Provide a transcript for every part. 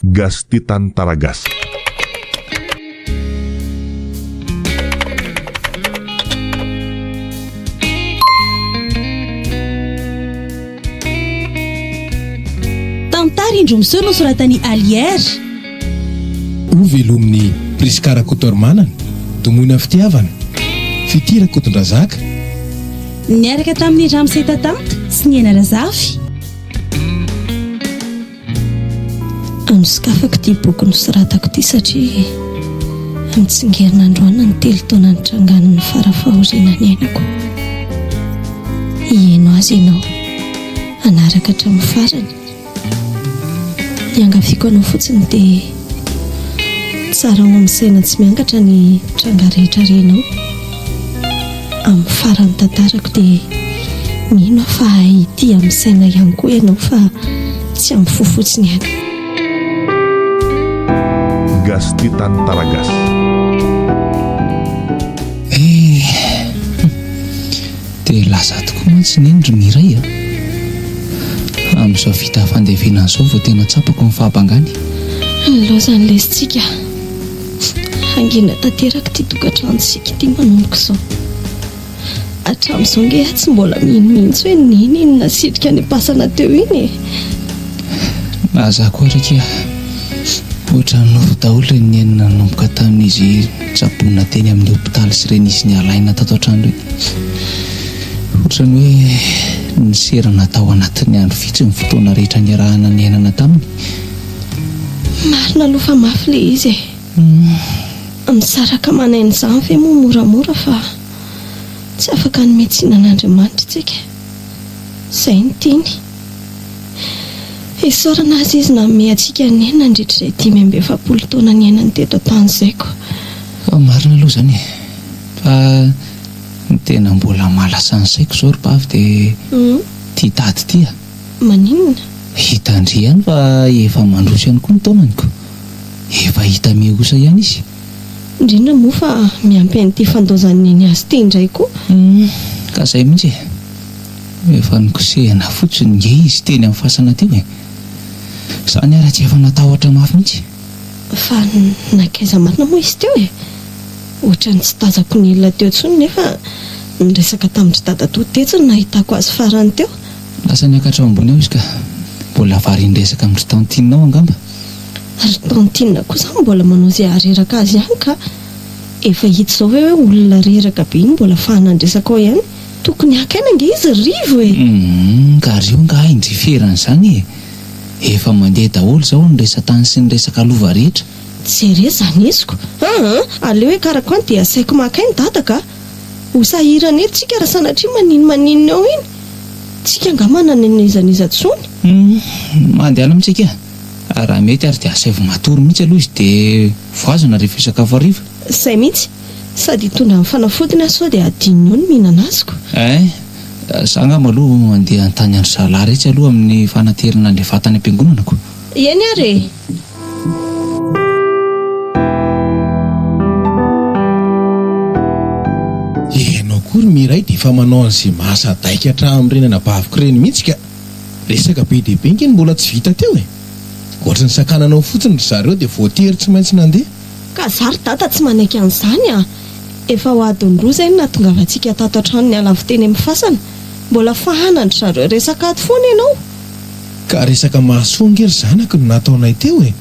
Gasy te tany tara gasy. Tantara indroa miseho nosoratan'i Allière. Ho velomin'i Prisca Rakotoarimanana, domoina fitiavana, Fitia Rakotondrazaka. Niaraka tamin'i Ramse Tatanta sy Niaina Razafy. Anosokafako ity boky nosoratako ity satria mitsingerina androany ny telo taona nitrangan'ny fara fahoriana niainako. Hiheno azy ianao hanaraka hatramin'ny farany. Iangaviako anao fotsiny dia zarao amin'ny saina tsy miangatra ny tranga rehetra renao amin'ny faran'ny tantarako dia mino aho fa hahay hitia amin'ny saina ihany koa ianao fa tsy amin'ny fo fotsiny ihany. Gasy tia tany Taragasy. Dia lasa tokoa mantsy neny ry Mireille a! Amin'izao vita fandevenana izao vao tena tsapako ny fahabangany e! Ny loza ny lesintsika hangina tanteraka ity tokantranontsika ity manomboka izao. Hatramin'izao ange aho tsy mbola mino mihitsy hoe neny iny nasitrika any am-pasana teo iny e! Na za koa ary akia, ohatran'ny nofy daholo ilay neny nanomboka tamin'izy Tsaboina teny amin'ny hopitaly sy ireny izy nialaina tato an-trano ireny. Hoatran'ny hoe niserana tao anatin'ny andro vitsy ny fotoana rehetra niarahana niainana taminy. Marina aloha fa mafy ilay izy e. Misaraka manaina izany ve moa moramora fa tsy afaka hanome tsiny an'Andriamanitra isika? Izay no tiany. Isaorana Azy Izy nanome antsika ny ainy nandritra izay dimy amby efapolo taona niainany teto an-tany izay koa. Fa marina aloha izany e! Fa ny tena mbola mahalasa ny saiko izao ry Pavy dia ity daty ity a! Maninona? Hitan-dry ihany fa efa mandroso ihany koa ny taonany ko! Efa hita mihosa ihany izy. Indrindra moa fa miampy an'ity fandaozan'i Neny azy ity indray koa. Humm! Ka izay mihitsy e! Efa nikosehina fotsiny nge izy teny amin'ny fasana teo e! Izany ary tsy efa natahotra mafy mihitsy. Fa nankaiza marina moa izy teo e? Ohatran'ny tsy tazako ny olona teo intsony nefa niresaka tamin-dry dadatoa tetsy no nahitako azy farany teo. Lasa niakatra ao ambony ao izy ka. Mbola varian-dresaka amin-dry tantine ao angamba. Ry tantine koa izany mbola manao izay hahareraka azy ihany ka. Efa hita izao ve hoe olona reraka be iny mbola fahanandresaka ao ihany? Tokony haka aina ange izy ry Rivo e! Humm ka ry io angaha indriferany izany e! Efa mandeha daholo izao ny resa-tany sy ny resaka lova rehetra. Tsy re izany heziko aa! Aleo hiakarako any dia asaiko maka aina dadako a! Ho sahirana eo tsika raha sanatria maninmaninona eo iny! Tsika angaha manana an'izan'iza tsony? Humm mandehana amintsika a! Raha mety ary dia asaivo matory mihitsy aloha izy dia voazana rehefa hisakafo hariva. Izay mihitsy! Sady hitondra ny fanafodiny aho sao dia hadinony eo ny mihinana azy ko. Eeh, za angamba aloha mandeha hanontany an-dry zalahy retsy aloha amin'ny fanaterana an'ilay vata any am-piangonana ko. Eny ary e! Ianao koa ry Mireille dia efa manao an'izay mahasadaika hatramin'ireny anabaviko ireny mihitsy ka! Resaka be dia be ange no mbola tsy vita teo e! Ohatry ny sakananao fotsiny ry zareo dia voatery tsy maintsy nandeha. Ka za ry dada tsy manaiky an'izany a! Efa ho adiny roa izay no nahatongavantsika tato an-trano niala avy teny amin'ny fasana. Mbola fahanan-dry zareo resaka ato foana ianao. Ka resaka mahasoa ange ry zanako no nataonay teo e!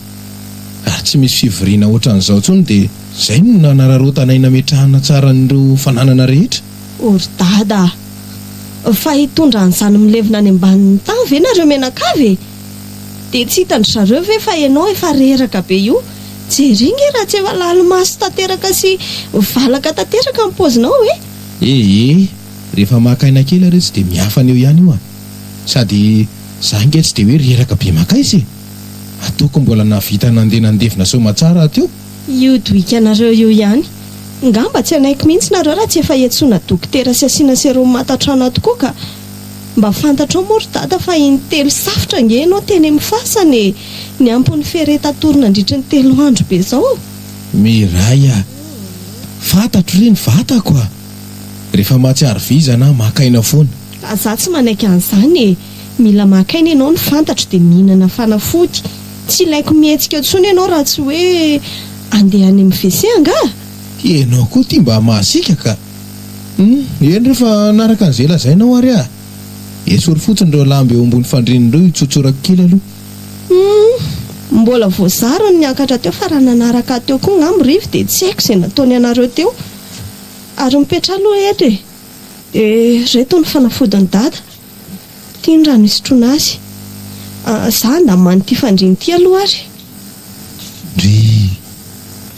Ary tsy misy fivoriana ohatran'izao intsony dia izay no nanararaotanay nametrahana tsara an'ireo fananana rehetra. O ry dada a! Fa hitondra an'izany milevina any ambanin'ny tany ve nareo mianakavy e? Dia tsy hitan-dry zareo ve fa ianao efa reraka be io? Jereo nge raha tsy efa lalimaso tanteraka sy valaka tanteraka ny paozinao e! E e! Rehefa maka aina kely ary izy dia miafana eo ihany io a! Sady za nge tsy dia hoe reraka be maka aiza e! Ataoko mbola nahavita nandeha nandevina soamatsara aho teo! Io dohikanareo io ihany! Ngamba tsy hanaiky mihitsy nareo raha tsy efa iantsoana dokotera sy asiana serum matatrana tokoa ka! Mba fantatrao moa ry dada fa in telo safotra ange ianao teny amin'ny fasana e! Ny ampon'ny ferre tatory nandritry ny telo andro be zao. Miray a! Fantatro re ny vatako a! Rehefa mahatsiaro vizana aho maka aina foana. Fa za tsy manaiky an'izany e! Mila maka aina ianao ny fantatro dia mihinana fanafody. Tsy ilaiko mihetsika eo tsony ianao raha tsy hoe andeha any amin'ny WC angaha? Ianao koa ity mba mahasiaka ka! Humm eny re fa hanaraka an'izay lazainao ary aho e! Esory fotsiny ireo lamba eo ambony fandriana ireo hitsotsorako kely aloha. Humm mbola voazara ny niakatra teo fa raha nanaraka ahy teo koa ngah mirivy dia tsy haiko izay nataony anareo teo. Ary mipetraha aloha eto e! Dia ireto ny fanafodin'i Dada. Ity ny raha nisotroana azy. Za ndaman ity fandriana ity aloha ary. Ry!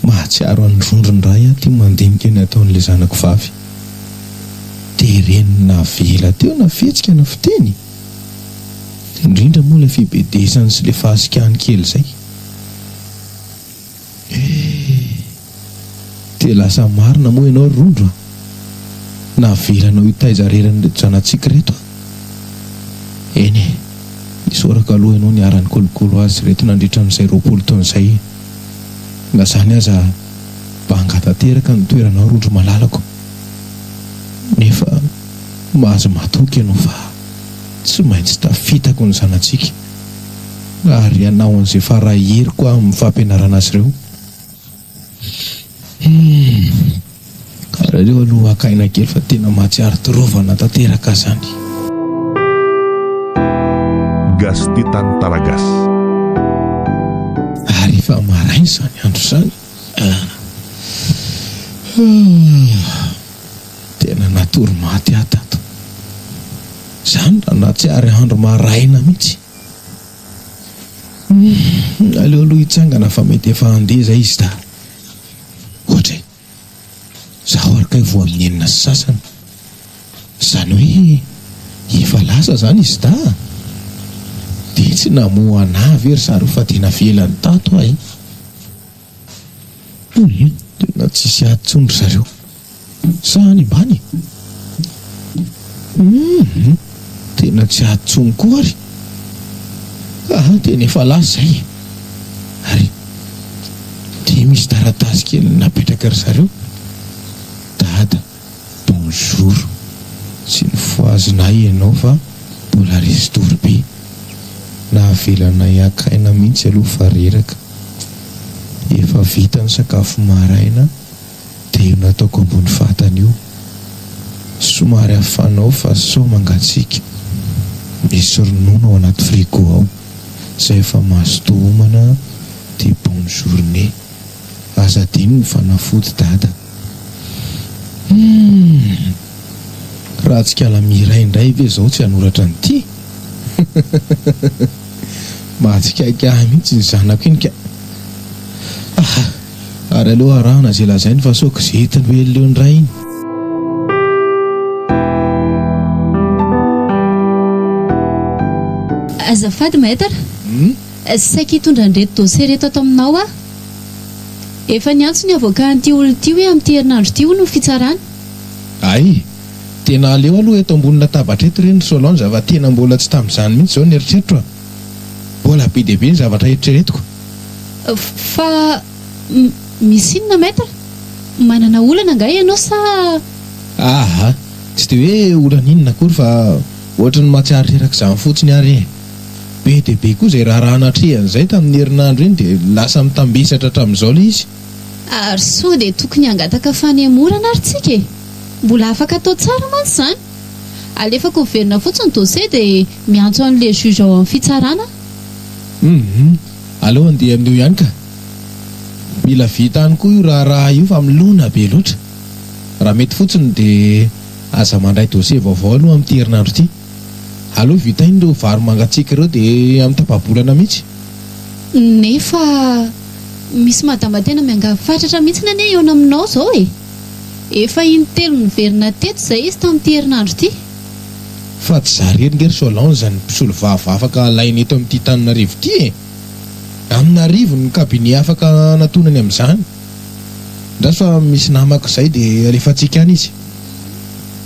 Mahatsiaro an'ny rondrony ray aho ity mandinika ny ataon'ilay zanako vavy. Dia reniny navela teo na fihetsika na fiteny e! Indrindra moa ilay fibedesany sy ilay fahasikahany kely izay. Eh! Dia lasa marina moa ianao ry Rondro a! Navelanao hitaiza reran'ireto zanatsika ireto a! Eny e! Isaorako aloha ianao niharan'ny kolokolo azy ireto nandritra an'izay roapolo taona izay e! Na izany aza banga tanteraka ny toeranao Rondro malalako! Nefa mahazo matoky ianao fa tsy maintsy tafitako ny zanatsika! ary ianao an'izay fara heriko aho amin'ny fampianarana azy ireo. Hum. Aleo aloha haka aina kely fa tena mahatsiaro torovana tanteraka zany. Gasty tany Talagasy. Ary efa maraina izany andro izany. Ah. Ah. Tena natory maty aho tato. Izany raha nahatsiary andro maraina mihitsy. Humm, aleo aloha hitsangana fa mety efa handeha izay izy dahy. Ohatra e. Izaho ary kay voa amin'ny enina sy sasany. Izany hoe efa lasa izany izy dahy? Dia tsy namoha an'ahy ve ry zareo fa dia navelany tato aho e? Tena tsisy ady tsony ry zareo. Sa any ambany e? Tena tsy ady tsony koa ary. Aha, tena efa lasa izay e. Ary dia misy taratasy kely napetraka ry zareo. Dada. Bonjour. Tsy nifohazina ahy ianao fa mbola restore be. Nahavelanay haka aina mihitsy aloha fa reraka. Efa vita ny sakafo maraina dia io nataoko ambony vatana io. Somary afanao fa sao mangatsiaka. Misy ronono ao anaty frigo ao. Izay efa mazotoa homana dia bonne journée. Aza adino ny fanafody dada. Humm. Ratsikala Miray indray ve izao tsy hanoratra an'ity? Mahatsikaiky ahy mihitsy ny zanako iny ka. Ah, ary aleo arahana izay lazainy fa sao gazety no hely indray iny. Azafady Maître, saika hitondra an'ireto dossiers ireto ato aminao aho. Efa niantso ny avocat an'ity olona ity hoe amin'ity herinandro ity hono ny fitsarana. Hay! Tena aleo aloha eto ambony latabatra eto re ny Solange fa tena mbola tsy tamin'izany mihitsy izao ny eritreritro a! Mbola be dia be ny zavatra eritreretiko. Fa misy inona Maître? Manana olana angaha ianao sa? Aha! Tsy dia hoe olana inona akory fa ohatran'ny mahatsiaro reraka izany fotsiny ary e! Be dia be koa izay raharaha natrehan'izay tamin'iny herinandro iny dia lasa mitambesatra hatramin'izao ilay izy. Ary sao dia tokony hangataka fanemorana ary tsika e? Mbola afaka atao tsara mantsy izany. Alefako miverina fotsiny ny dossier dia miantso an'ilay juge ao amin'ny fitsarana aho. Hum. Aleo handeha amin'io ihany ka. Mila vita any koa io raharaha io fa milona be loatra. Raha mety fotsiny dia aza mandray dossier vaovao aloha amin'ity herinandro ity. Aleo vitaina ireo vary mangatsiaka ireo dia amin'ny tapa-bolana mihitsy. Nefa misy madama tena miangavy fatratra mihitsy anie hihaona aminao izao e! Efa in-telo niverina teto izay izy tamin'ity herinandro ity. Fa tsy zary heringa ry Solange ny mpisolovava afaka alaina eto amin'ity Tananarivo ity e! Amin'arivo ny cabinet afaka hanatonany amin'izany. Andraso fa misy namako izay dia alefantsika any izy.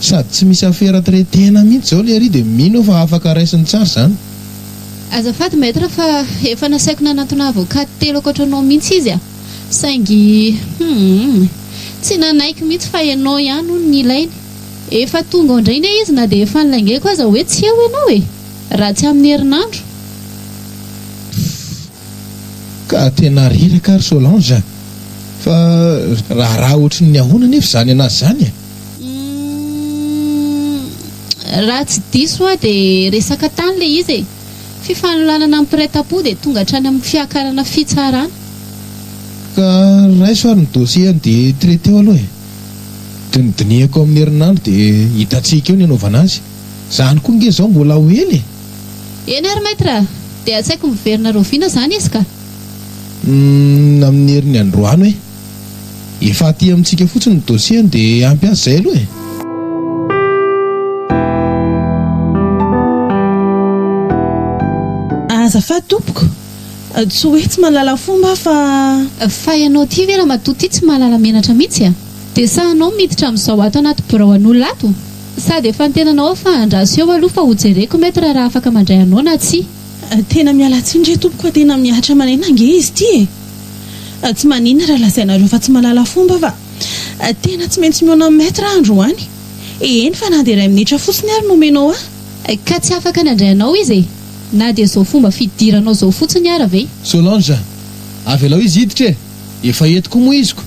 Sady tsy misy afera tire tena mihitsy zao lery de mino aho fa afaka raisiny tsara zany. Azafady maître fa efa nasaiko nanantona avocate telo ankoatranao mihitsy izy a! saingy humm tsy nanaiky mihitsy fa ianao ihany hono ny ilainy! efa tonga ao indray nge izy na dia efa nilaingaiko aza hoe tsy eo ianao e! raha tsy amin'ny herinandro! Ka tena reraka ry Solange a! Fa raharaha ohatry ny ahoana anefa izany an'azy izany e? Uhm, raha tsy diso aho dia resaka tany ilay izy e! Fifanolanana am-piraitampo dia tonga hatrany amin'ny fiakarana fitsarana. Ka raiso ary ny dossier-ny dia traiter-o aloha e! Dinidinihako amin'ny herinandro dia hitantsika eo ny hanaovana azy. Izany koa ange izao mbola ho ela e! Eny ary Maître a! Dia tsy haiko miverina rahoviana izany izy ka! Humm amin'ny herin'ny androano e! Efa aty amintsika fotsiny ny dossier-ny dia ampy azy izay aloha e! Azafady tompoko! Tsy hoe tsy mahalala fomba aho fa. Fa ianao ity ve ramatoa ity tsy mahalala menatra mihitsy a! Dia sahanao miditra amin'izao ato anaty birao an'olona ato? Sady efa ny tenanao afa andraso eo aloha fa ho jereko maître raha afaka mandray anao na tsia. Tena miala tsiny re tompoko a tena mihatra maneno ange izy ity e! Tsy maninona raha lazainareo fa tsy mahalala fomba fa tena tsy maintsy mihaona amin'i maître aho androany e! Eny fa na dia iray minitra fotsiny ary no omenao ahy. Ka tsy afaka nandray anao izy e! Na dia izao fomba fidiranao izao fotsiny ara ve? Solange, avelao izy hiditra e! Efa eto koa moa izy ko!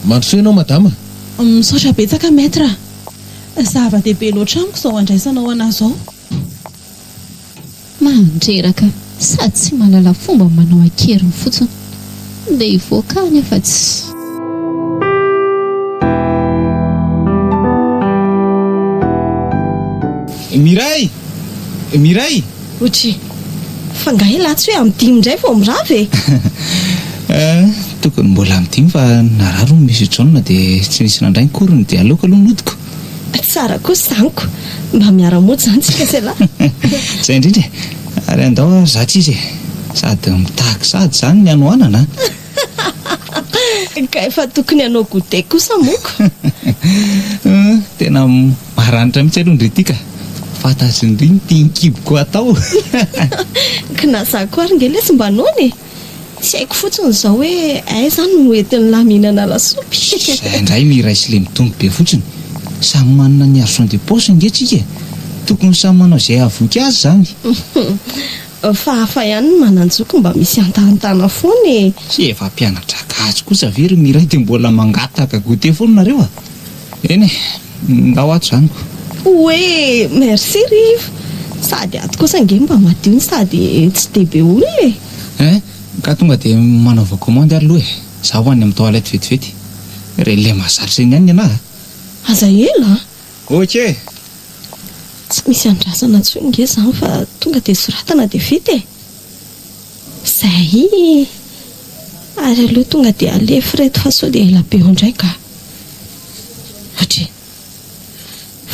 Mandrosoa ianao madama. Misaotra betsaka Maître a! Zava dehibe loatra amiko izao andraisanao anah izao. Mandreraka sady tsy mahalala fomba manao an-keriny fotsiny dia hivoaka any afa tsy. Miray! Mireille! Ochi, fa nga elah tsy hoe am dimy indray vao mirava e! Eh, tokony mbola am dimy fa narary hono Monsieur John dia tsy nisy nandray ny korony dia aleoko aloha nodiko. Tsara koa sy anko, mba miara mody zany tsika sy elah. Zay indrindra e! Ary andao ary za tsy izy e! Sady mitaky sady zany ny hanoanana a! Hahahaha! Ka efa tokony hanao goûter kosa moko! Humm! Tena maranitra mihitsy aloha ny Riti ka! Fantatry ny Ry ny tian-kiboko hatao! Hahahaha! Kna za koa ary nge lesy mba noana e! Tsy haiko fotsiny izao hoe aiza no hoentin'i Lamy hihinana lasopy! Izay indray miray sy lemitombo be fotsiny! Samy manana ny argent de poche nge tsika e! Tokony samy manao izay hahavoky azy izany! Humm! Fa hafa ihany ny mananjoko mba misy antahantana foana e! Tsy efa mpianatra gasy kosa ve ry Miray dia mbola mangataka goûter foana nareo a! Eny e! Ndao ato izany ko! Oe! Merci ry iva! Sady ato kosa ange mba madio no sady tsy dia be olona e! Eh! Ka tonga dia manaova commande ary aloha e! Za ho any amin'ny toilette vetivety! Re le mahazatra eny ihany ny anah a! Aza ela a! Ok e! Tsy misy andrasana intsony nge izany fa tonga dia soratana dia vita e! Zay! Ary aleo tonga dia alefa ireto fa sao dia ela be ao indray nga! Ohatry e!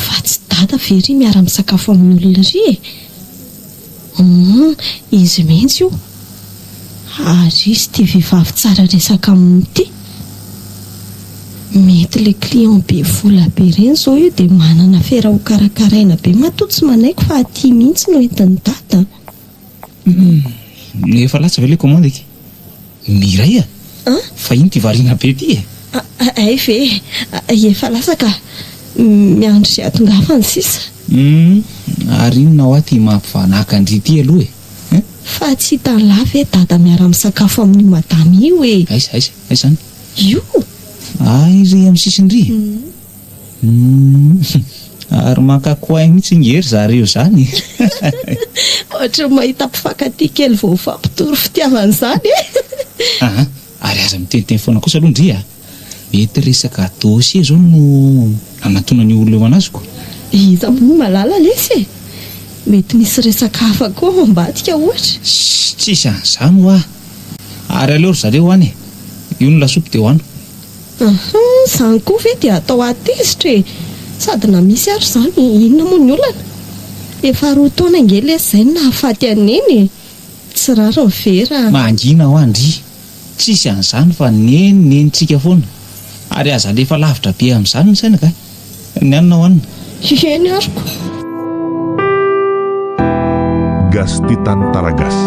Fa tsy dada ve ry miara-misakafo amin'ny olona ry e! Humm izy mihitsy io ary izy ity vehivavy tsara resaka aminy ity. Mety le client be vola be reny zao io de manana afera ho karakaraina be matoa tsy manaiky fa aty mihitsy no entin'i dada an. Humm efa latsa ve le commande ity? Mireille a! Fa iny ty variana be ty e! Hay ve e! Efa lasa ka! Miandry izay hatongavany sisa. Humm! Ary inona hoa ty mampivanaka-ndry ty aloha e! Hein! Fa tsy hitan'lah ve Dada miara-misakafo amin'io Madama io e! Aiza? Aiza? Aiza izany? Io! Aiza eo amin'ny sisiny ry? Humm! Humm ary maka coin mihitsy nge ry zareo zany eh! Ohatran'ny mahita mpifankatia kely vao mifampitory fitiavana izany eh! Aa ary aza miteniteny foana kosa aloha ndry a! Mety resaka dossier zao no anantonan'io olona io anazy ko! Iza moa no mahalala lesy e! Mety misy resaka hafa koa ao ambadika ohatra! Sssy tsisy an'izany hoa! Ary aleo ry zareo hoany e! Io ny lasopy dia hohano! Ahaa, izany koa ve dia atao ahy tezitra e! Sady na misy ary izany, inona moa ny olana? Efa roa taona ange lesy izay no nahafaty an'i Neny e! Tsy rariny ve raha. Mangina hoa ndry! Tsisy an'izany fa ny Neny Nenitsika foana! Ary aza alefa lavitra be amin'izany ny saina kay! Ny anona ho anona. Hiheno ary ko. Gasy tia tany Taragasy.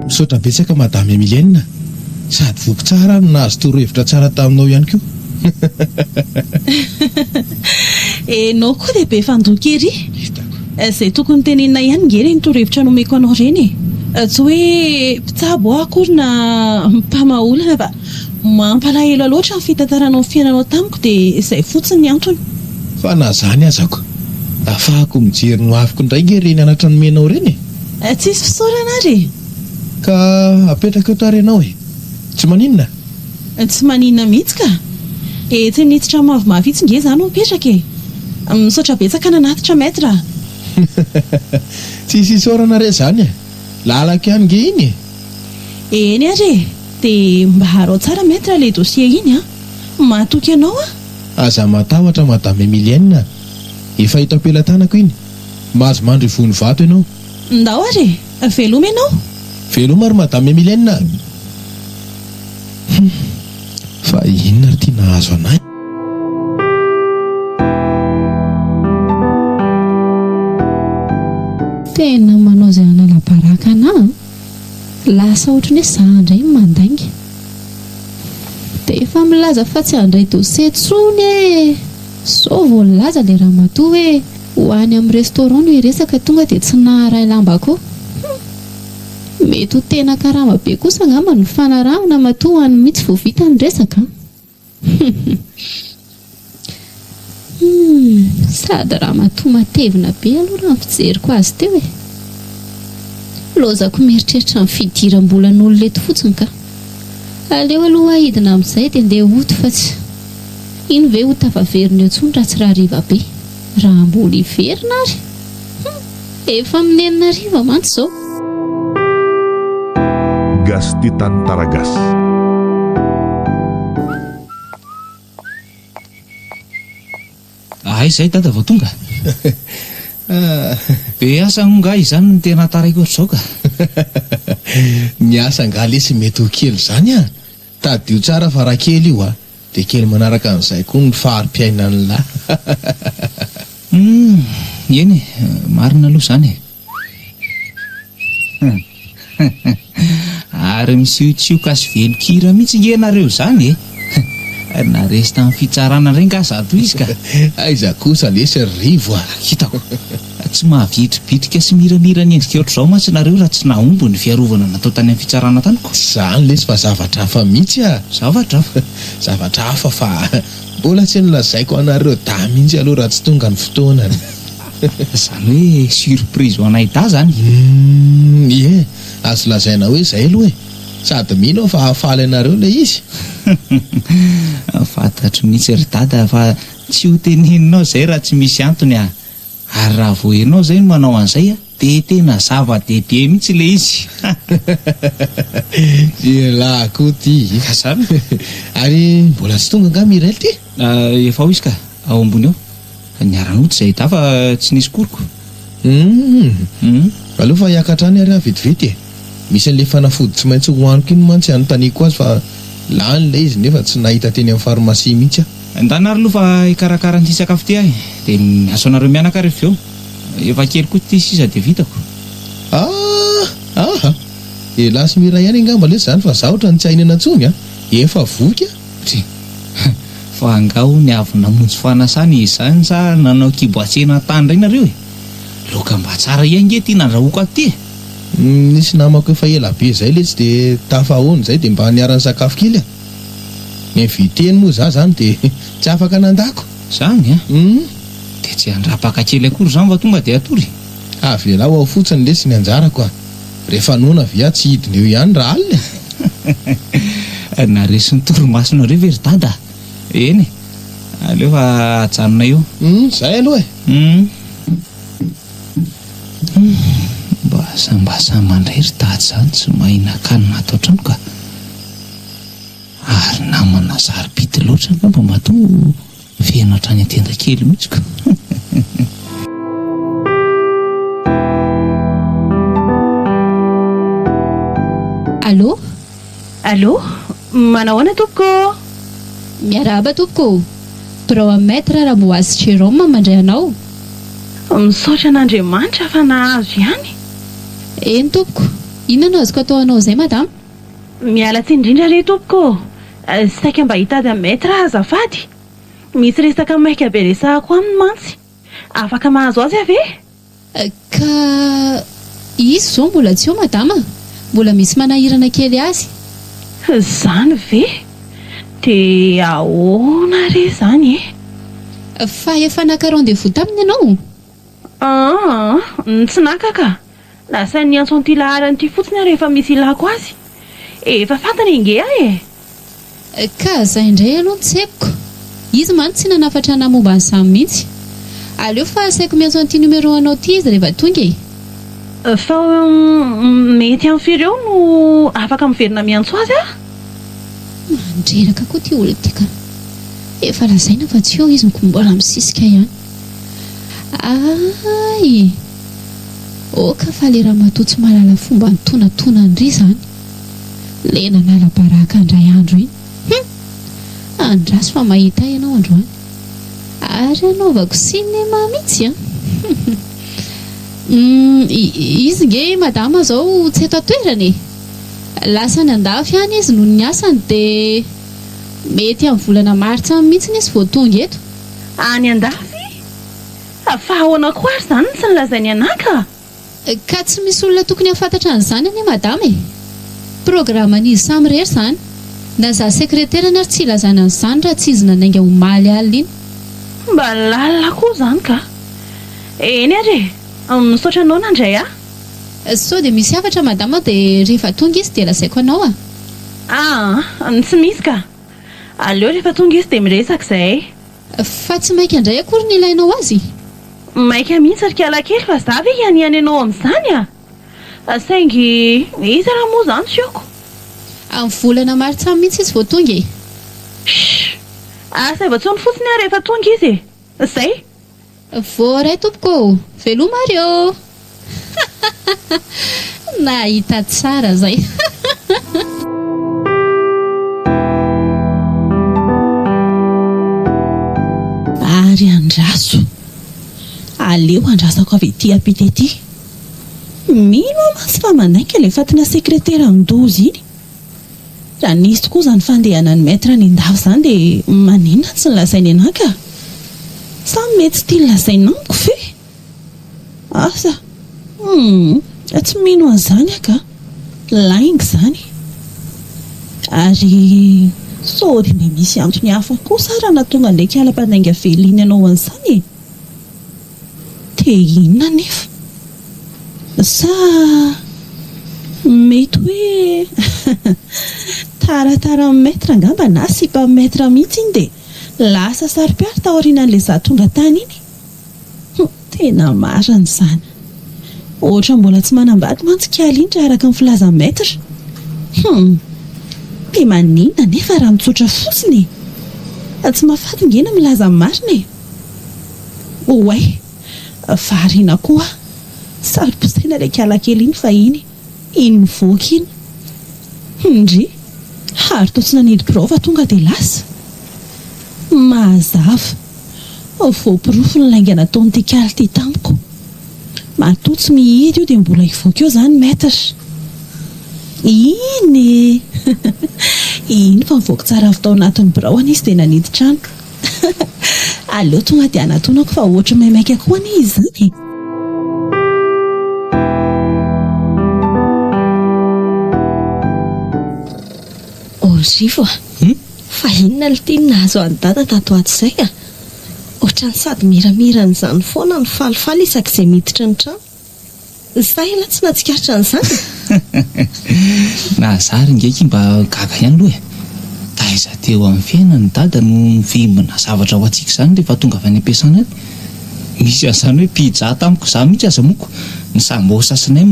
Misaotra betsaka Madame Emilienne sady voky tsara aho no nahazo torohevitra tsara taminao ihany koa. Enao koa dia be fandoky ery. Hitako. Izay tokony tenenina ihany nge ireny torohevitra nomeko anao ireny e. Tsy hoe mpitsabo aho akory na mpamaha olana fa Mampalahelo loatra ny fitantaranao ny fiainanao tamiko dia izay fotsiny ny antony. Fa na zany aza ko. Afahako mijery ny hoaviko indray nge reny anatra nomenao reny e! Tsisy fisaorana ary e! Ka apetraka eo tarehinao e! Tsy maninona? Tsy maninona mihitsy ka! Etsy amin'ny hitsitra mavomavo itsy nge za no mipetraka e! Misaotra betsaka nanatitra Maître a! Tsisy isaorana re zany e! Lalako ihany nge iny e! Eny ary e! Dia mba harao tsara Maître le dossier iny an! Mahatoky anao aho! Aza matahotra Madame Emilienne a! Efa eto am-pelatanako iny! Mahazo mandry io voany vato ianao! Ndao ary e! Veloma ianao! Veloma ry Madame Emilienne a! Hum. Fa inona ary ity nahazo anay? Tena manao izay hanalabaraka anà an! Lasa ohatran'ny hoe zà indray no mandainga. Dia efa milaza fa tsy handray dossier intsony e! Sao vao nilaza ilay ramatoa hoe ho any amin'ny restaurant no hiresaka tonga dia tsy naharay lamba koa. Hum! Mety ho tena karama be kosa angamba ny fanarahana matoa any mitsy vao vita ny resaka an! Sady ramatoa matevina be aloha raha ny fijeriko azy teo e! Lozako mieritreritra ny fidiram-bolan'olona eto fotsiny ka! Aleo aloha aho hidina amin'izay dia ndeha hoto fa tsy iny ve ho tafaverina eo intsony raha tsy rahariva be! Raha mbola hiverina ary? Hum, efa amin'ny enina hariva mantsy izao. Gasy tia tany tara gasy. Hay izay dada vao tonga? Be asa hono ngah izany no tena taraiko ohatr'izao ka. Ny asa ngah lesy mety ho kely izany an! Tadidio tsara fa raha kely io a, dia kely manaraka an'izay koa ny fari-piainan'la. Humm, eny e, marina aloha izany e. Ary misiotsioka sy velon-kira mihitsy nge nareo izany e. Na resy tamin'ny fitsarana indray nga zato izy ka. Aiza kosa lesy ry Rivo a. Hitako. Tsy mahavidy bitika sy miramira ny endrika ohatr'izao mantsy nareo raha tsy nahomby ny fiarovana natao tany amin'ny fitsarana tany ko. Zany lesy fa zavatra hafa mitsy a! Zavatra hafa? Zavatra hafa fa mbola tsy nolazaiko anareo dahy mihitsy aloha raha tsy tonga ny fotoanany. Zany hoe surprise ho anay dahy zany? Humm ie, azo lazaina hoe zay aloha e! Sady mino aho fa hahafaly anareo ilay izy. Fantatro mihitsy ry dada fa tsy ho teneninao izay raha tsy misy antony a! Ary raha vao enao zay no manao an'izay a dia tena zava-dehibe mihitsy ilay izy hahahaha Ialahy koa ty Ka zany e Ary mbola tsy tonga angaha Mirelle ty? Ah, efa ao izy ka, ao ambony ao. Niara-nody izahay dahy fa tsy nisy koriko. Humm, Humm. aleo fa hiakatra any ary aho vetivety e. Misy an'ilay fanafody tsy maintsy hohaniko iny mantsy anontaniako azy fa lany ilay izy nefa tsy nahita teny amin'ny pharmacie mihitsy aho. Endana ary aloha fa hikarakara an'ity sakafo ity aho e! Dia misaotra anareo mianaka ary avy eo efa kely koa ity sisa dia vitako. Ah! Aha! Helas Miray any angamba lesy izany fa za ohatran'ny tsy hahinana intsony a! Efa voky a! Tsia! Fa angaha hono avy namonjy fanasana izany sa nanao kibo atsena tany indray nareo e! Laoka mba tsara ihany nge ity nandrahoako ato ity e! Nisy namako efa ela be zay letsy de tafahaona izay de mba niara nisakafo kely a! Invite ny moa za zany de tsy afaka nandako! Zany a! Hum! De tsy handrapaka kely akory zany fa tonga de hatory? Avelao ao fotsiny lesy ny anjarako a! Rehefa noana ve aho tsy hidina eo ihany raha alina e! Naharesy ny torimasonareo ve ry dada a! Eny e! Aleo fa ajanonay eo! Hum! Zay aloha e! Hum! Mba asambasam andray ry dada zany tsy mahay nakanina ato antrano ka! ary namana sarobidy loatra angamba matoa feno hatrany an-tenda kely mihitsy ka! Allô? Allô? Manao ahoana tompoko ô? Miarahaba tompoko ô! Birao an'i Maître Ramboasy Jérôme mandray anao. Misaotra an'Andriamanitra fa nahazo ihany. Eny tompoko. Inona no azoko atao ho anao izay madama? Miala tsiny indrindra re tompoko ô! Saika mba hitady an'i Maître aho azafady. Misy resaka maika be resahako aminy mantsy. Afaka mahazo azy aho ve? Ka izy izao mbola tsy eo madama? Mbola misy manahirana kely azy. Zany ve? Dia ahoana re izany e? Fa efa naka rendez-vous taminy ianao? Aa, tsy naka ka! Lasa niantso an'ity laharana ity fotsiny aho rehefa misy ilako azy. Efa fantany ange aho e! Ka zay indray aloha no tsepiko. Izy mantsy tsy nanafatra anah momba an'izany mihitsy. Aleo fa asaiko miantso an'ity numéro anao ty izy reva tonga e. Sao mety any firy eo no afaka miverina miantso azy aho? Mandreraka koa ty olona ty ka. Efa lazaina fa tsy eo izy no ko mbola misisika ihany. Aay! Oka fa le ramatoa tsy mahalala fomba nitonantonan'ry zany. le nanala baraka ndray andro iny hum! andraso fa mahita ianao androany ary anaovako cinéma mitsy an! humm! izy nge i madama zao tsy eto an-toerana e! lasa any andafy any izy noho ny asany de mety am volana martsa any mitsiny izy vao tonga eto. Any andafy? Fa ahoana koa ary zany no tsy nilazain'i Anah ka! Ka tsy misy olona tokony hahafantatra an'izany anie madama e! Programan'izy samy irery izany. Na za sekreterany ary tsy ilazana an'izany raha tsy izy nanainga omaly alina iny. Mba lalina koa izany ka! Eny ary e! Misaotra anao nandray ahy. Sao dia misy hafatra madama dia rehefa tonga izy dia lazaiko anao a! Aa! Tsy misy ka! Aleo rehefa tonga izy dia miresaka izahay. Fa tsy maika ndray akory ny ilainao azy? Maika mihitsy ry kialakely fa za ve hianiany anao amin'izany a! Saingy iza ra moa zany tsy aoko? Amin'ny volana martsa mihitsy izy vao tonga e! Shh! Asaivo an-tsony fotsiny aho rehefa tonga izy e! Zay! Voaray tompoko ô! Veloma ary ô! Nahita tsara zay. Ary andraso. Aleo andrasako avy ety ampita ety. Mino aho mantsy fa manaiky ilay fatina sekreteran'i Doza iny. Raha nisy tokoa izany fandehanan'i Maître nindafy izany dia maninona tsy nolazainy anah ka? Sa mety tsy tia nolazaina amiko ve? Asa? Humm! Tsy mino an'izany aho ka! Lainga izany! Ary sao dia mba misy antony hafa koa sa raha nahatonga an'ilay kala mpanainga velina iny hanao an'izany e? Te inona anefa? Sa mety hoe tarataran'i Maître angamba na sipan'i Maître mihitsy iny dia lasa saropiaro taorianan'ilay za tonga tany iny? Humm, tena marina izany. Ohatra mbola tsy manambady mantsy i Kalin raha araka ny filazan'i Maître. Humm, dia maninona anefa raha mitsotra fotsiny e? Fa tsy mahafaty nge ny milaza ny marina e! Oay! Variana koa! Saro-posaina ilay kialakely iny fahiny, iny mivoaka iny. Humm ndry! Ary toa tsy nanendy birao fa tonga dia lasa? Mazava! Voaporofo ny lainga nataon'ity kaly ity tamiko. Matoa tsy mihidy io dia mbola hivoaka eo izany Maître! Iny e! Iny fa nivoaka tsara avy tao anatin'ny biraony izy dia nanendy trano. Aleo tonga dia anatonako fa ohatry ny maimaika koa anie izany e. Onzivo a! Fa inona ny tim nahazo an'i Dada tato ho ato izay a! Ohatran'ny sady miramiran'izany foana no falifaly isak'izay miditra ny trano. Fa ianao tsy nahatsikaritra an'izany? Nahazara ingahy Kim mba gaga ihany aloha e! Taiza teo amin'ny fiainany i Dada no nivimbina zavatra ho antsika izany rehefa tonga avy any am-piasana any? Misy an'izany hoe pizza tamiko izaho mihitsy aza moko ny sambosa sy nem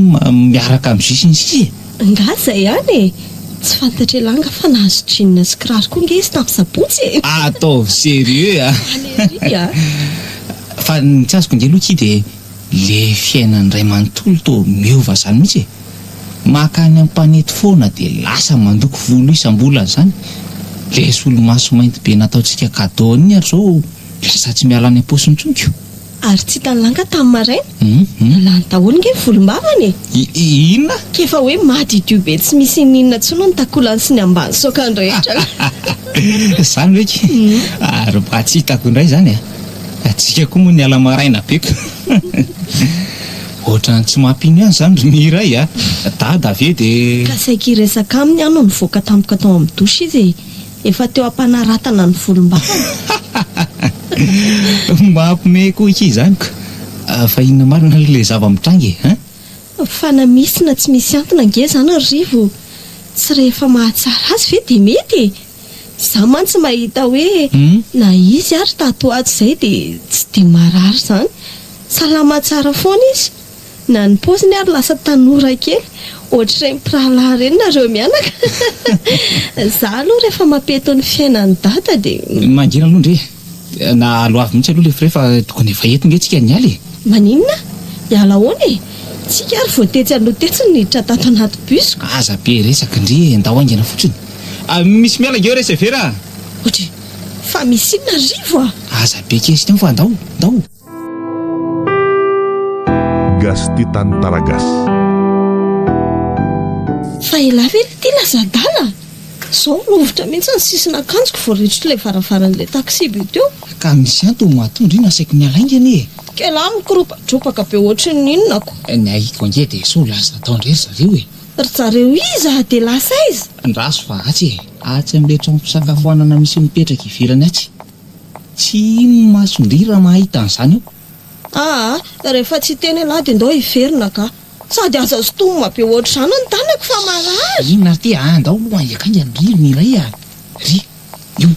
miaraka amin'ny jus sy ny sisa e! Angaha izay ihany e! Tsy fantatr'i Elanga fa nahazo jeans sy kiraro koa ange izy tamin'ny sabotsy e! Ataovy serieux a! Alery a! Fa ny tsy azoko ange aloha Ki dia. Le fiainany ray manontolo toa miova zany mihitsy e! Maka any ampanety foana de lasa mandoko volo isam-bolana zany! Le solomaso mainty be nataontsika cadeau an'iny ary zao lasa tsy miala any am-paosy intsony ko! Ary tsy hitan'i Langa tamin'ny maraina? Hum! Lany daholo nge ny volom-bavany e! Inona? K'efa hoe madiodio be tsy misy ininona intsony ny takolany sy ny ambany saokany rehetra! Zany ve ki? Ary mba tsy hitako indray zany a! Adika koa moa ny ala maraina be ka. Ohatrany tsy mampino ihany izany ry Mireille a! Dada ve dia. Ka saiky hiresaka aminy aho no nivoaka tampoka tao amin'ny douche izy e! Efa teo am-panaratana ny volom-bavany. Mampme koa akia izany ka! Fa inona marina aloha ilay zava-mitranga e? Hein? Fa na misy na tsy misy antony ange izany ry Rivo, tsy rehefa mahatsara azy ve dia mety e? Za mantsy mahita hoe na izy ary tato ho ato zay dia tsy dia marary izany. Salama tsara foana izy. Na ny paoziny ary lasa tanora kely. Ohatr'ireny mpirahalahy ireny nareo mianaka. Za aloha rehefa mapeto ny fiainan'i Dada dia. Mangina aloha ndry e. Na aloavy mihitsy aloha le frais fa tokony efa eto nge tsika niala e! Maninona? Hiala ahoana e? Tsika ary vao tetsy aloha tetsy no niditra tato anaty bus ko! Aza be resaka ndry e, ndao haingana fotsiny! Misy miala ngeo re Severa a! Ohatry, fa misy inona Rivo a! Aza be kezika ao fa ndao, ndao! Gasty tany Taragasy. Fa elah ve ity lasa adala? Zao rovitra mihitsy ny sisin'akanjoko vao retsiko ilay varavaran'ilay taxi be teo. Ka misy antony mahatonga io nasaiko niala haingana ee. K'elah mikoropatropaka be ohatry ny inona ko. Ny ahiko ange dia sao lasa tao indray ry zareo e. Ry zareo iza dia lasa aiza? Andraso fa atsy e. Atsy amin'ilay trano fisakafoanana misy mipetraka ivelany atsy. Tsy hino ny mason-dry raha mahita an'izany eo. Aa! rehefa tsy hiteny ialahy dia ndao hiverina ka! Sady aza sintomina be ohatr'izany ny tanako fa marary! Inona ary ity aa! ndao aloha haingaikainga ny ririny iray aa! ry! io!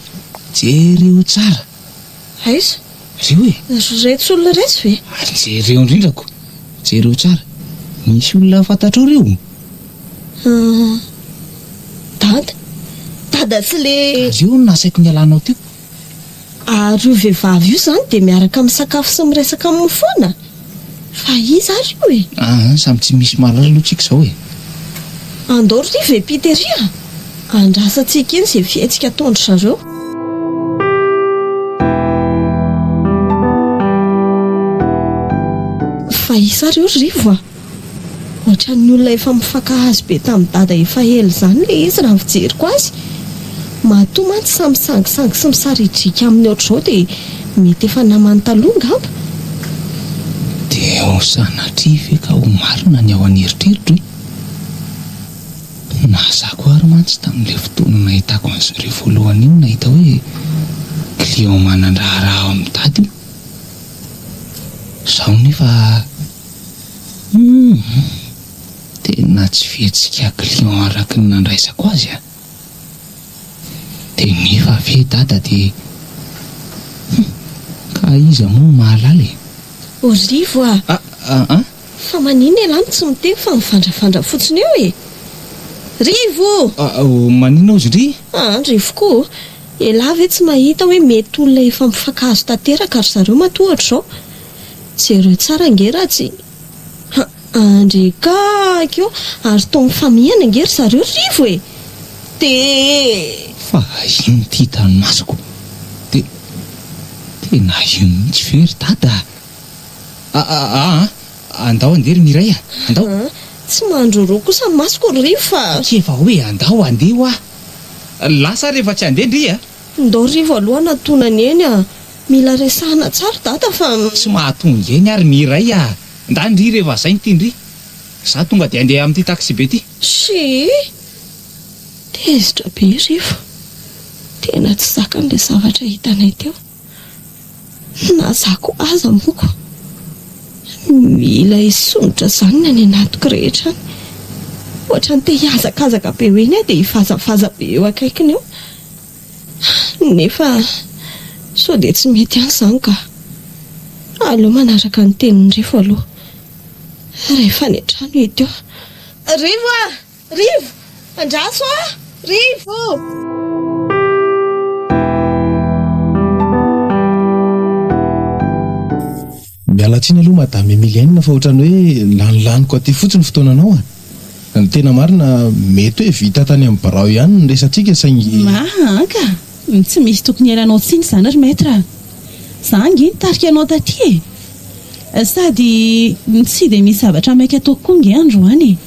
jereo tsara! Aiza? reo e! ry retsy olona iretsy ve? jereo indrindra ko! jereo tsara! misy olona fantatrao reo? Dada? Dada tsy le. Ary io no nasaiko nialanao teo. Ary io vehivavy io izany dia miaraka misakafo sy miresaka aminy foana? Fa iza ary io e? Aa, samy tsy misy mahalala aloha tsika izao e. Andao ry Rivo e Peter a! Andrasantsika eny izay fihetsika ataon-dry zareo. Fa iza ary io ry Rivo a? Ohatran'ny olona efa mifankahazo be tamin'i Dada efa ela izany ilay izy raha ny fijeriko azy. Matoa mantsy samy misangisangy sy misaridrika aminy ohatr'izao dia mety efa namany taloha angamba? Dia ho sanatria ve ka ho marina ny ao an'eritreritro e? Na za koa ary mantsy tamin'ilay fotoana nahitako an'i Zoria voalohany iny nahita hoe client manan-draharaha ao amin'i Dada io. Izao nefa. Humm! Tena tsy fihetsika client araky ny nandraisako azy a! Dia nefa ve dada dia humm! Ka iza moa no mahalala e! Olivo a! Ah an! Fa maninona ialahy no tsy miteny fa mivandrafandra fotsiny eo e! Rivo o! Ah oh! Maninona ozy ndry? Ah an! Rivoko o! Ialahy ve tsy mahita hoe mety olona efa mifankahazo tanteraka ry zareo matoa ohatr'izao? Jereo tsara ange Ratsy ha andry ka ko ary toa mifamihana ange ry zareo Rivo e! Te! Fa inona ity hitan'ny masoko? Te, tena io mihitsy ve ry Dada a? A a a! Andao andeha ry Mireille a! Andao! A! Tsy mandroroa kosa ny masoko ry Rivo fa. Akia efa hoe andao andeha hoa! Lasa ary rehefa tsy andeha ndry a! Ndao Rivo aloha hanatona ny eny a! Mila resahana tsara dada fa. Tsy mahatonga eny ary ny iray a! Ndà ndry re vazaha inty ndry! Za tonga dia andeha amin'ity taxi be ty. Shii! Tezitra be ry fa tena tsy zakany le zavatra hitanay teo. Na za ko aza moa ko mila hisondrotra zany ny any anatiko rehetra any. Ohatran'ny te hihazakazaka be eo eny aho dia hivazavaza be eo akaikiny eo. Nefa sao dia tsy mety ihany izany ka. Aleo manaraka ny tenin'i Rivo aloha rehefa any an-trano i Ito. Rivo a! Rivo! Andraso aho a! Rivo! Miala tsiny aloha madame Emilienne fa otrany hoe lanilaniko aty fotsiny fotoananao a! Ny tena marina mety hoe vita tany amin'ny birao ihany ny resatsika saingy. Maa ka! Tsy misy tokony hialanao tsiny izany ry maître a! Za ange nitarika anao taty e! Sady tsy dia misy zavatra maika ataoko koa ange androany e!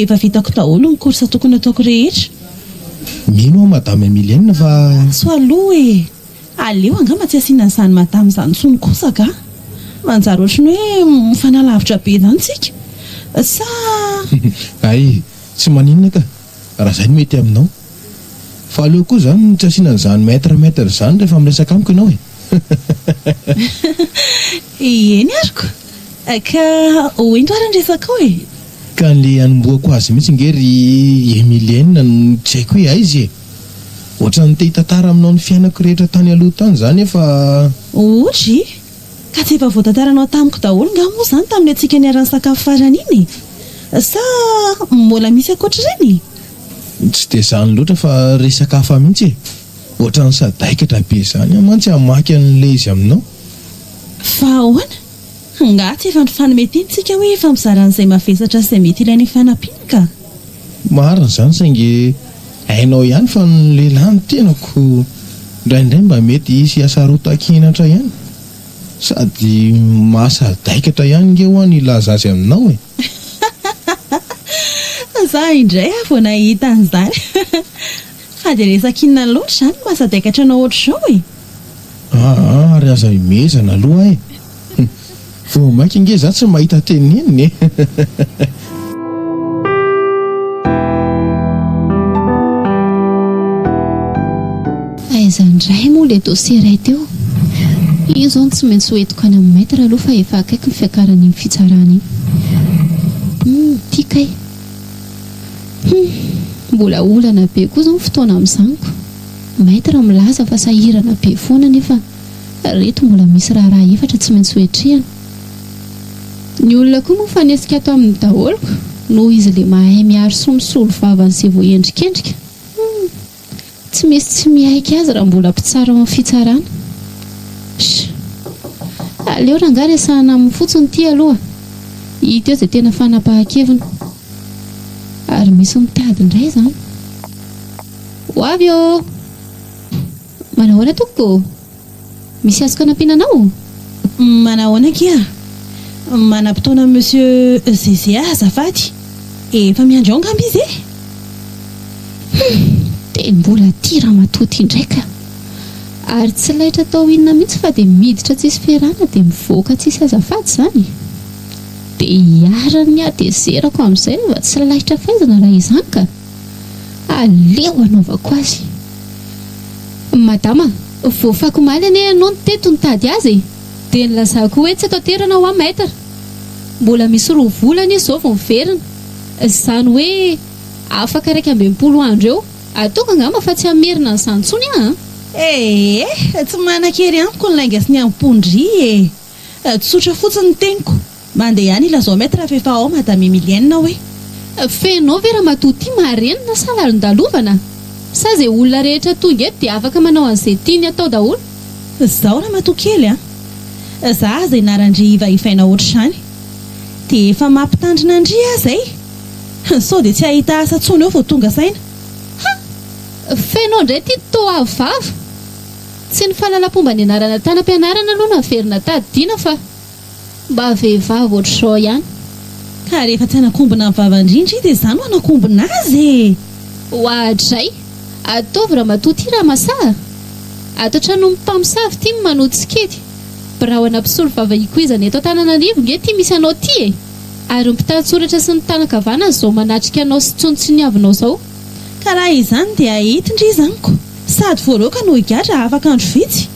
Efa vitako daholo ny course tokony ataoko rehetra. Mino aho madame Emilienne fa. Antso aloha e! Aleo angamba tsy asiana an'izany madame izany intsony kosa angaha. Manjary ohatran'ny hoe mifanalavitra be izany isika. Sa. Hay, tsy maninona ka, raha izay no mety aminao. Fa aleo koa izany ny tsy asiana an'izany maitre maitre izany rehefa miresaka amiko ianao e. Eny aroko. Ka hoento ary ny resakao e. Ka an'ilay hanombohako azy mihitsy ange ry Emilienne no tsy haiko hoe aiza e. Ohatran'ny te hitantara aminao ny fiainako rehetra tany aloha tany za nefa. Ory, ka tsy efa voatantaranao tamiko daholo nga moa zany tamin'ny antsika niara-nisakafo farany iny e? Sa mbola misy ankoatr'ireny e? Tsy dia zany loatra fa resaka hafa mihitsy e! Ohatran'ny sadaikatra be zany aho mantsy hamaky an'ilay izy aminao. Fa ahoana? Angaha tsy efa nifanome teny tsika hoe hifampizara an'izay mavesatra sy izay mety ilaina hifanampiana ka? Marina izany saingy hainao ihany fa ny lehilahy no tenako indraindray mba mety hisy hasarotan-kenatra ihany. Sady mahasadaikatra ihany nge hoa ny hilaza azy aminao e! Za indray aho vao nahita an'izany. Fa dia resaka inona loatra izany no mahasadaikatra anao ohatr'izao e? Aa ary aza himehezana aloha e! Vao mainka ange izaho tsy mahita teny nenina e! Aiza indray moa ilay dossier iray teo? Io izao no tsy maintsy ho entiko any amin'ny maître aloha fa efa akaiky ny fiakaran'iny fitsarana iny. Hum, ity kay! Humm, mbola olana be koa izao ny fotoana amin'izaniko. Maitre milaza fa sahirana be foana nefa reto mbola misy raharaha efatra tsy maintsy hoetrehana. Ny olona koa moa mifanesika ato aminy daholoko noho izy le mahay miaro soa misolo vava an'se voaendrikendrika. Humm. Tsy misy tsy miaiky azy raha mbola mpitsara ao amin'ny fitsarana. Sh! Aleo rangah resahana aminy fotsiny ity aloha, hita eo izay tena fanapahan-keviny. Ary misy mitady indray izany. Ho avy ô! Manahoana tompoko? Misy azoko anampiana anao? Manahoana akia a? Manam-potoana amin'i Monsieur Zeze aho azafady. Efa miandry ao angamba izy e? Humm! Dia mbola ity ramatoa ity indray ka! Ary tsy laitra atao inona mihitsy fa dia miditra tsisy ferana dia mivoaka tsisy azafady izany? Dia iharan'ny hatezerako amin'izay raha vao tsy laitra faizina raha izany ka! Aleo anaovako azy. Madama, voafako omaly anie ianao niteto nitady azy e! Dia nilazako hoe tsy eto an-toerana hoa Maître. Mbola misy roa volana izy izao vao miverina. Izany hoe afaka iraika amby enimpolo andro eo. Ataoko angamba fa tsy hamerina an'izany intsony aho an! Ee, tsy manan-kery amiko ny lainga sy ny ampon'dry e! Tsotra fotsiny ny teniko. Mande ihany ilazao maître f'efa ao madame Emilienne ao e. Feno ve ramatoa ity marenina sa lalondalovana? Sa ze olona rehetra tonga eto dia afaka manao an'ze tiany atao daholo? Zao ramatoa kely a! Za aza ianaran-dry hivaivaina ohatr'izany. Dia efa mampitandrina an-dry aza e! Sao dia tsy hahita asa tsony eo vao tonga saina. Ha! Feno indray ity toa avo vava. Tsy ny fahalalampomba nianarana tany am-pianarana aloha no averina tadidiana fa mba vehivavy ohatr'izao ihany. Ka rehefa tsy hanakombona ny vavan-drindry i dia izaho no hanakombona azy e! Oadray! Ataovy ramatoa ity raha masaha! Ato an-trano ny mpamosavy ity no manohy tsikety. Birao ana mpisolo vava ikoizana eto Antananarivo nge ity misy anao ity e! Ary ny mpitantsoratra sy ny tana-kavana izao manatrika anao sy tsinotsiniavinao izao. Ka raha izany dia entin-dry izy amiko, sady voaroaka no higadra afaka andro vitsy,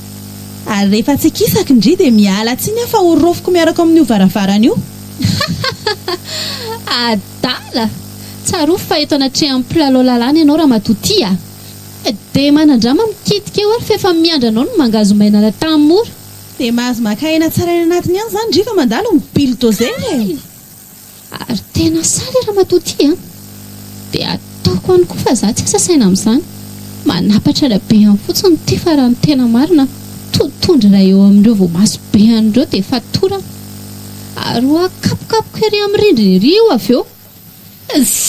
ary rehefa tsy kisaky ndry dia miala tsiny aho fa horaofiko miaraka ao amin'io varavarana io. Hahahaha! Adala! Tsarovy fa eto anatrehan'ny mpilalao lalàna ianao ramatoa ty a! Dia manandrama mikitika eo ary f'efa miandry anao ny mangazomainana tanimora. Dia mahazo maka aina tsara any anatiny any izany ndry fa mandalo ny bulldozer e! Ary tena sahy le ramatoa ty a! Dia ataoko any koa fa za tsy asa saina amin'izany. Manapatra ny habehany fotsiny ty fa raha ny tena marina totohondry iray eo amin'ireo voamaso be any ireo dia fatorana. Ary ho akapokapoko ery amin'ny rindrina ery io avy eo.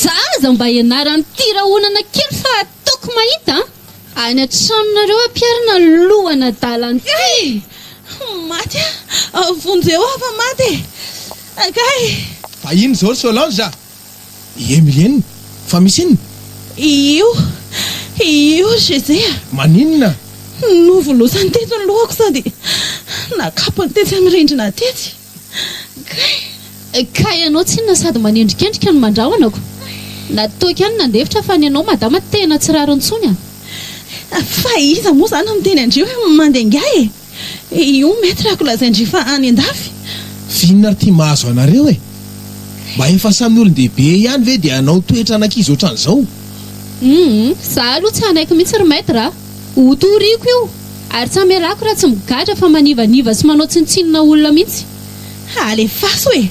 Za aza mba ianaran'ity rahonana kely fa Toko mahita any an-tranonareo aho mpiarina lohan'adala an'ity e! Hey! Maty aho! Vonjeo aho fa maty e! Kay! Fa inona izao ry Solange a? I Emilienne? Fa misy inona? Io! Io ry José a! Maninona? Novolosany teto ny lohako sady nakapony tetsy amin'ny rindrina tetsy. Ka ianao tsinona sady manendrikendrika ny mandrahonako. Na toaka ihany nandefitra fa ny anao madama tena tsy rariny intsony a! Fa iza moa izany no niteny an-dry hoe mandeha ingahy e! Io maître ako lazain-dry fa any an-dafy. F'inona ary ty mahazo anareo e! Mba efa samy olon-dehibe ihany ve dia hanao toetra an'ankizy ohatran'izao? Humm! Za aloha tsy hanaiky mihitsy ry maître a! Ho toriako io, ary tsy hamelako raha tsy migadra fa manivaniva sy manao tsinontsinona olona mihitsy. Ha alefaso e!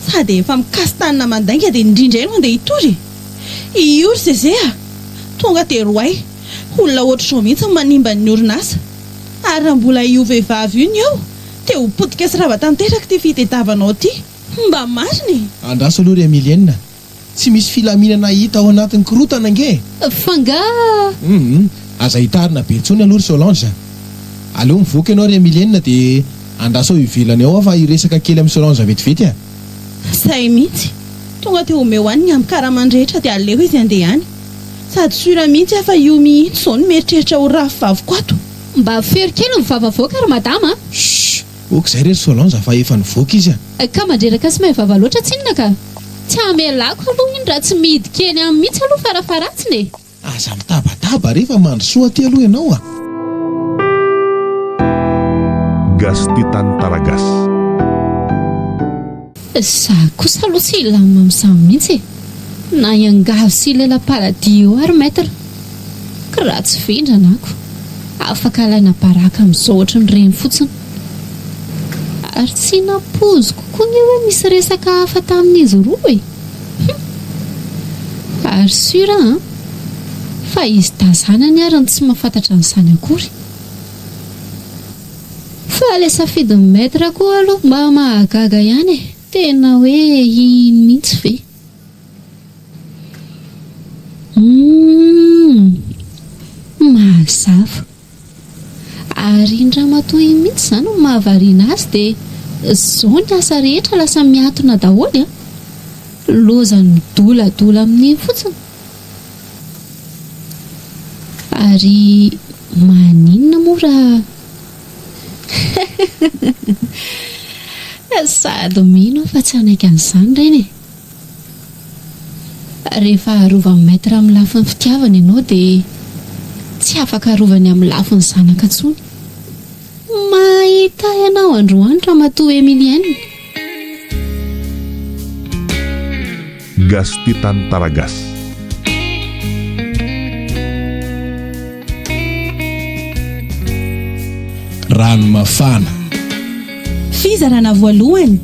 Sady efa mikasi-tanana mandainga dia ny rindra eo no andeha hitory e! Io ry Zeze a! Tonga dia roay, olona ohatr'izao mihitsy no manimba ny orinasa. Ary raha mbola io vehivavy io no eo dia ho potika sy rava tanteraka ity fitediavanao ity. Mba marina e! Andraso aloha ry Emilienne Tsy misy filaminana hita ao anatin'ny korotana ange e! F'angaha? Humm aza hitarina be intsony aloha ry Solange a! Aleo mivoaka ianao ry Emilienne dia andrasao ivelany ao aho fa hiresaka kely amin'i Solange vetivety a! Sahy mihitsy! Tonga dia omeo any ny ambin-karamany rehetra dia aleo izy handeha any! Sady sûr mihitsy aho fa io mihitsy izao no mieritreritra ho rahavaviko ato! Mba fero kely ny vava avoaka ry madama a! Shh! Ok zay re ry Solange fa efa nivoaka izy a! Ka mandreraka sy maivava loatra tsinona ka! Tsy hamelako aloha iny raha tsy midika eny aminy mihitsy aloha farafaharatsiny e! Aza mitabataba re fa mandrosoa aty aloha ianao a! Gasy tia tany Taragasy. Za kosa aloha tsy hilamina amin'izany mihitsy e! Na iangavy sy ilaina paradis eo ary Maître! Ka raha tsy vendrana ako, afaka alaina baraka amin'izao ohatran'ny reny fotsiny. Ary tsy nampoiziko koa anie hoe misy resaka hafa tamin'izy roa e! Hum! Ary sûr an! Fa izy dahy izany anie ary no tsy mahafantatra an'izany akory! Fa le safidin'ny maître koa aloha mba mahagaga ihany e! Tena hoe iny mihitsy ve? Humm! Mazava! Ary iny ramatoa iny mihitsy izany no mahavariana azy dia zao ny asa rehetra lasa miatona daholo a! Lozan'ny dola dola amin'iny fotsiny. Ary maninona moa raha sady mino aho fa tsy hanaiky an'izany reny e! Rehefa arovan'ny Maître amin'ny lafin'ny fitiavana ianao dia tsy afaka arovany amin'ny lafin'ny zanaka intsony. Mahita ianao androany Ramatoa Emilienne. Gasy tia tany tara gasy. Rano mafana. Fizarana voalohany.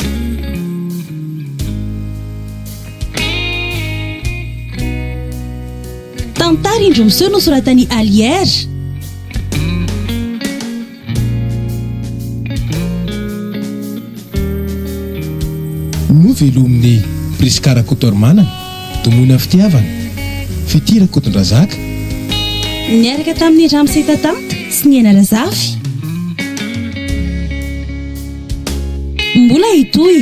Tantara indro miseho nosoratan'i Allière. Novelomin'i Prisca Rakotoarimanana, Domoina Fitiavana, Fitia Rakotondrazaka. Niaraka tamin'i Ramse Tatanta sy Niaina Razafy. Mbola hitohy.